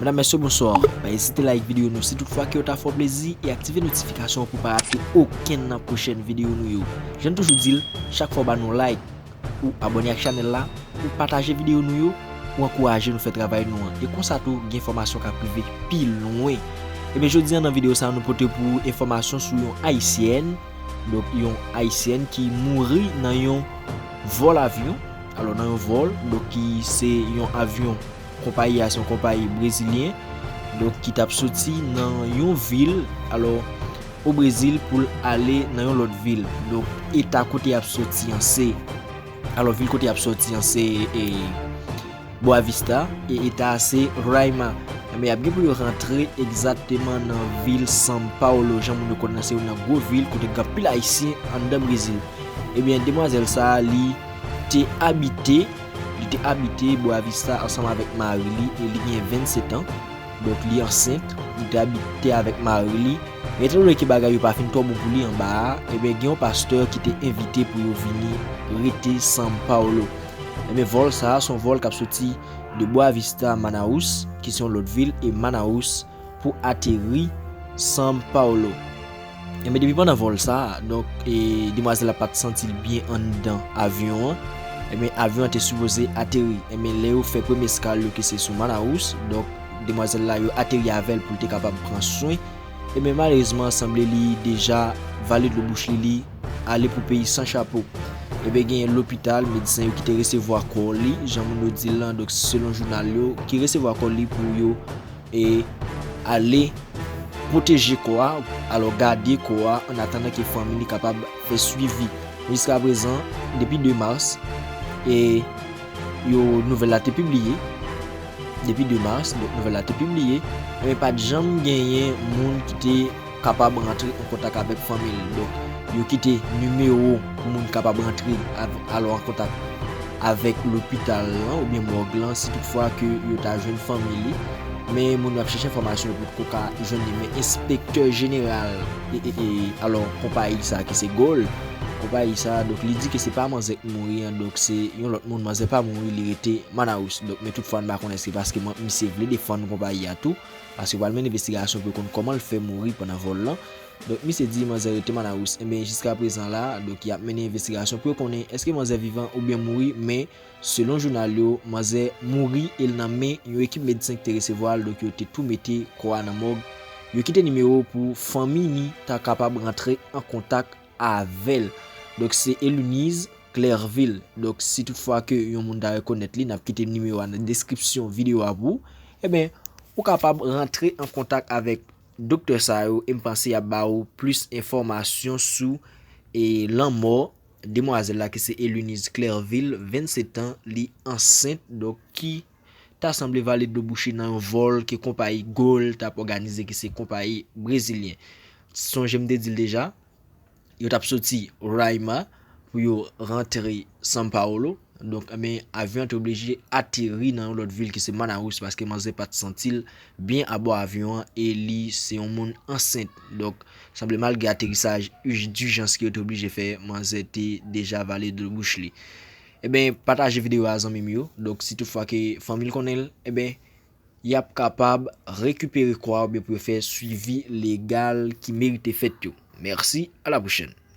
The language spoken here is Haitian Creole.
Medam mesye bonsoir, pa ezite like video nou si tout fwa ke yo ta fè w plezi e aktive notification pou w pa rate okenn nan pwochèn video nou yo. Janm toujou dil, chak fwa w ba nou like, ou abone ak chanèl la, ou pataje video nou yo, ou ankouraje nou fè travay nou an e konsa tou gen enfòmasyon kap rive pi lwen. Ebyen jodi an nan video sa nou pote pou ou enfòmasyon sou yon ayisyèn, donk yon ayisyèn ki mouri nan yon vòl avyon, alò nan yon vòl donk ki se yon avyon. Konpayi a se yon konpayi brezilyen donk ki tap soti nan yon vil alò o Brezil pou l ale nan yon lòt vil. Donk eta kote yap soti an se alò vil kote yap soti an se Boa Vista e eta a se Roraima. Enben yap gen pou yo rantre egzatteman nan vil San Paolo jan moun yo konnen se youn nan gwo vil kote gen anpil ayisyen anndan Brezil. Ebyen demwazèl sa li te abite. Li te abite Boa Vista ansanm avèk mari li e li gen 27 an, donk li ansent. Li te abite avèk mari li. Men etan done ke bagay yo pa fin twò bon pou li anba a, enben gen yon pastè ki te envite pou yo vini rete San Paulo. Enben vòl sa a se yon vòl k ap soti de Boa Vista a Manaus, ki se yon lòt vil, e Manaus, pou ateri San Paulo. Enben depi pandan vòl sa, donk e demwazèl la pat santi l byen anndan avyon an, enben avyon an te sipoze ateri. Enben lè yo fè premye eskal yo ki se sou Manaus, donk demwazèl la yo ateri avè l pou l te kapab pran swen, enben malerezman sanble li deja vale dlo bouch li, li ale pou peyi san chapo. Enben genyen lopital, medsen yo ki te resevwa kò li, jan moun yo di l lan, donk selon jounal yo, ki resevwa kò li pou yo E ale pwoteje kò a, alò gade kò a an atandan ke fanmi li kapab fè swivi. Jiska prezan, depi 2 mas, e yo nouvèl la te pibliye, depi 2 mas, nouvèl la te pibliye, e pa t janm genyen moun ki te. kapab rantre an kontak avèk fanmi l donk yo kite nimewo pou moun kapab rantre al an kontak avèk lopital lan oubyen mòg lan si tout fwa ke yo ta jwenn fanmi li men moun yo ap chèche enfòmasyon yo potko ka jwenn li men enspektè jeneral alò konpayi sa ki se Gold konpayi sa donk li di ke se pa manzè ki mouri an donk se yon lòt moun manzè pa mouri li rete Manaus donk men tout fwa n pa konnen se paske misye vle defann konpayi a tou. Paske yo pral mennen envestigasyon pou yo konn kòman l fè mouri pandan vòl lan. Donk misye di manzè rete Manaus. Enben jiskaprezan la, donk y ap mennen envestigasyon pou yo konnen èske manzè vivan oubyen mouri men selon jounal yo, manzè mouri e l nan men yon ekip medsen ki te resevwa l donk yo te tou mete kò a nan mòg. Yo kite nimewo pou fanmi ni ta kapab rantre an kontak. avèl donk se Elunize Clervil donk si tout fwa ke yon moun ta rekonèt li nap kite nimewo a nan deskripsyon video a pou ebyen ou kapab rantre an kontak avèk doktè sa yo em panse yap ba ou plis enfòmasyon sou e lanmò demwazèl la ki se Elunize Clervil 27 an li ansent donk ki. ta sanble vale dlo bouche nan yon vòl ke konpayi Gol t ap òganize ki se konpayi brezilyen. Sonje m te di l deja, yo t ap soti Roraima pou yo rantre São Paulo, donk men avyon an te oblije ateri nan yon lòt vil ki se Manaus paske manzè pa t santi l byen abò avyon an e li se yon moun ansent. Donk, sanble malgre aterisaj dijans ke yo te oblije fè, manzè te deja vale dlo bouch li. Ebyen pataje video a zanmim yo donk si tout fwa ke fanmil konnenl ebyen yap kapab rekipere kò a oubyen pou yo fè swivi legal ki merite fèt yo mèsi a la pwochèn.